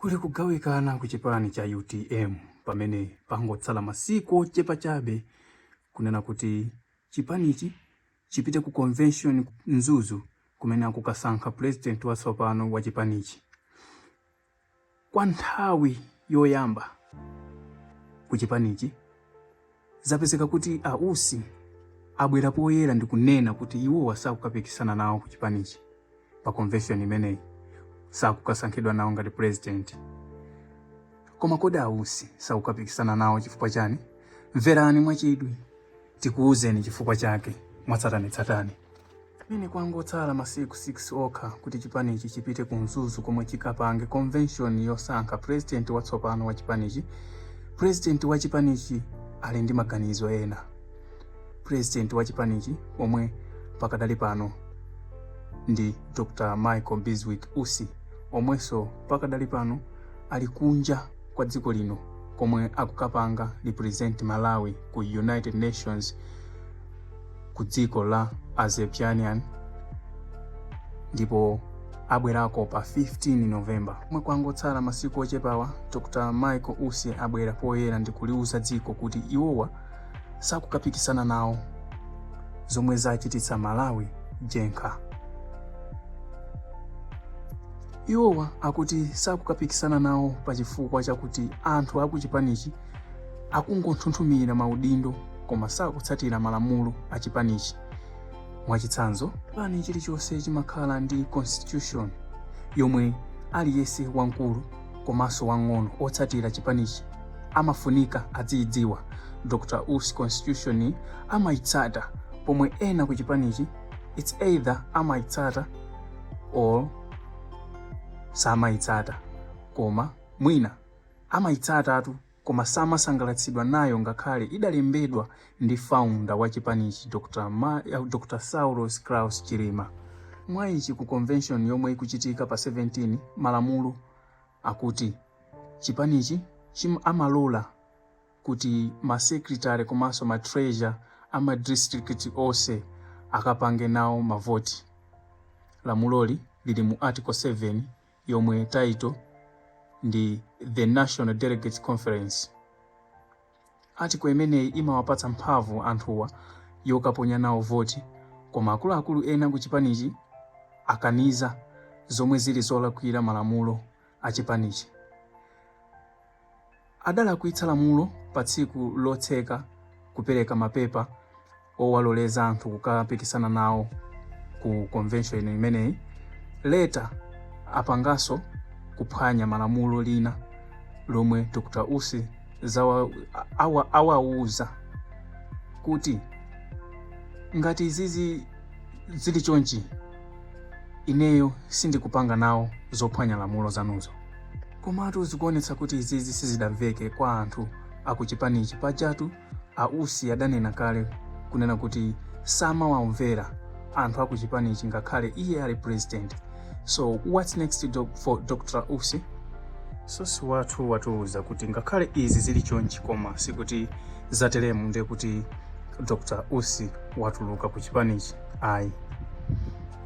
Kuli kugawikana ku chipani cha utm pamene pangotsala masiku ochepa chabe kunena kuti chipanichi chipite ku convention ku Mzuzu kumene akukasankha president watsopano wa chipanichi kwa nthawi yoyamba ku chipanichi Zapezeka kuti a Usi abwera poyera ndi kunena kuti iwowa sakukapikisana nawo ku chipanichi pa convention imeneyi, sakukasankhidwa nawo ngati president. Koma kodi a Usi sakukapikisana nawo chifukwa chani? Mverani mwachidwi tikuuzeni chifukwa chake mwatsatanetsatane. Pamene kwangotsala masiku 6 okha kuti chipanichi chipite ku Mzuzu komwe chikapange convention yosankha president watsopano wa chipanichi, president wa chipanichi ali ndi maganizo ena. President wa chipanichi omwe pakadali pano ndi Dr. Michael Bizwick Usi omwenso pakadali pano ali kunja kwa dziko lino komwe akukapanga represent Malawi ku United Nations ku dziko la Azerbaijan ndipo abwerako pa 15 November. Pomwe kwangotsala masiku ochepawa, Dr. Michael Usi abwera poyera ndi kuliuza dziko kuti iwowa sakukapikisana nawo zomwe zachititsa Malawi jenkha. Iwowa akuti sakukapikisana nawo pa chifukwa chakuti anthu akuchipanichi akungonthunthumira maudindo koma sakutsatira malamulo a chipanichi. Mwachitsanzo, chipani chilichonse chimakhala ndi constitution yomwe aliyense wamkulu komanso wang'ono otsatira chipanichi amafunika adziyidziwa. Dr Usi constitution amayitsata pomwe ena ku chipanichi it's either amayitsata or samayitsata koma mwina Amayitsatatu koma samasangalatsidwa nayo ngakhale idalembedwa ndi founder wa chipanichi Dr Saulos Klaus Chilima. Mwaichi ku convention yomwe ikuchitika pa 17 malamulo akuti chipanichi amalola kuti ma secretary komanso ma treasurer ama district onse akapange nawo mavoti. Lamuloli lili mu article 7 yomwe title ndi The National Delegates Conference. Article imeneyi imawapatsa mphamvu anthuwa yokaponya nawo voti koma akuluakulu ena ku chipanichi akaniza zomwe zili zolakwira malamulo a chipanichi. adalakwitsa lamulo pa tsiku lotseka kupereka mapepa owaloleza anthu kukapikisana nawo ku convention imeneyi later apanganso kuphwanya malamulo lina lomwe Dr. Usi awauza kuti ngati izizi zili chonchi ineyo sindikupanga nawo zophwanya lamulo zanuzo Komatu zikuonetsa kuti izizi sizidamveke kwa anthu akuchipanichi. Pajatu a Usi adanena kale kunena kuti samawamvera anthu akuchipanichi ngakhale iye ali president. So what's next for Dr. Usi? Sosi wathu watiuza kuti ngakhale izi zili chonchi koma sikuti zateremu ndiye kuti Dr. Usi watuluka ku chipanichi ayi.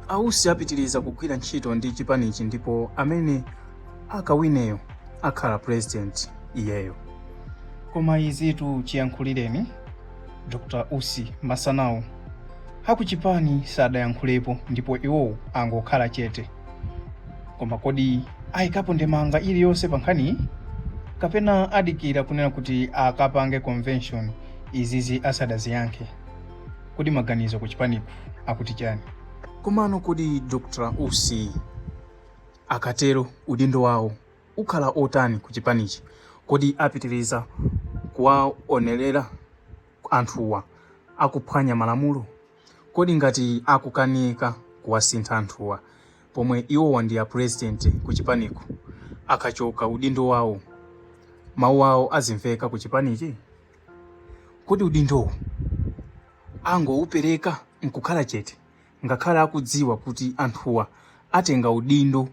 A Usi apitiriza kugwira ntchito ndi chipanichi ndipo amene akawineyo akhala president iyeyo koma izitu chiyankhulireni dr usi masanawa akuchipani sadayankhulepo ndipo iwowo angokhala chete koma kodi ayikapo ndemanga iliyonse pa nkhaniyi kapena adikira kunena kuti akapange convention izizi asadaziyankhe kodi maganizo ku chipaniku akuti chani komano kodi dr usi Akatero udindo wawo ukhala otani ku chipanichi? Kodi apitiliza kuwaonelera anthuwa akuphwanya malamulo? Kodi ngati akukanika kuwasintha anthuwa pomwe iwowa ndi a president ku chipaniku, akachoka udindo wawo mawu awo azimveka ku chipanichi? Kodi udindowu angowupereka nkukhala chete? ngakhale akudziwa kuti anthuwa atenga udindo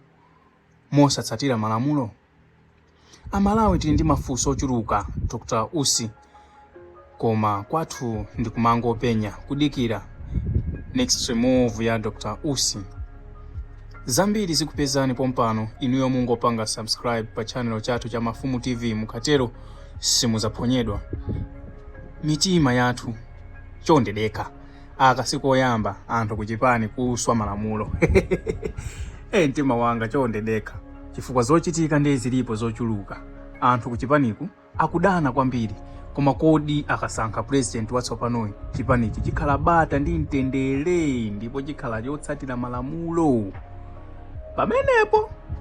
mosatsatira malamulo? A Malawi tili ndi mafunso ochuluka, Dr Usi, koma kwathu ndi kumangopenya, kudikira next move ya Dr Usi. Zambiri zikupezani pompano, inuyo mungopanga subscribe pa channel chathu cha Mafumu TV, mukatero simudzaphonyedwa mitima yathu. Chonde dekha. Aka sikoyamba anthu kuchipani kuswa malamulo ee, mtima wanga chonde dekha chifukwa zochitika ndiye zilipo zochuluka. Anthu kuchipaniku akudana kwambiri, koma kodi akasankha president watsopanoyi chipanichi chikhala bata ndi mtendere ndipo chikhala chotsatira malamulo pamenepo?